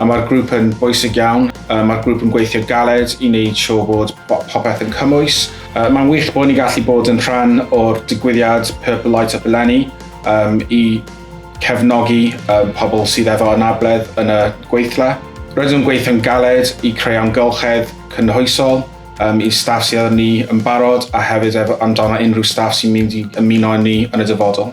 A mae'r grŵp yn bwysig iawn. Uh, mae'r grŵp yn gweithio galed i wneud siŵr bod popeth yn cymwys. Uh, Mae'n wych bod ni gallu bod yn rhan o'r digwyddiad Purple Light Up eleni um, i cefnogi um, pobl sydd efo anabledd yn y gweithle. Rydym gweithio'n galed i creu amgylchedd cynhwysol um, i staff sydd â ni yn barod a hefyd efo amdano unrhyw staff sy'n mynd i ymuno â ni yn y dyfodol.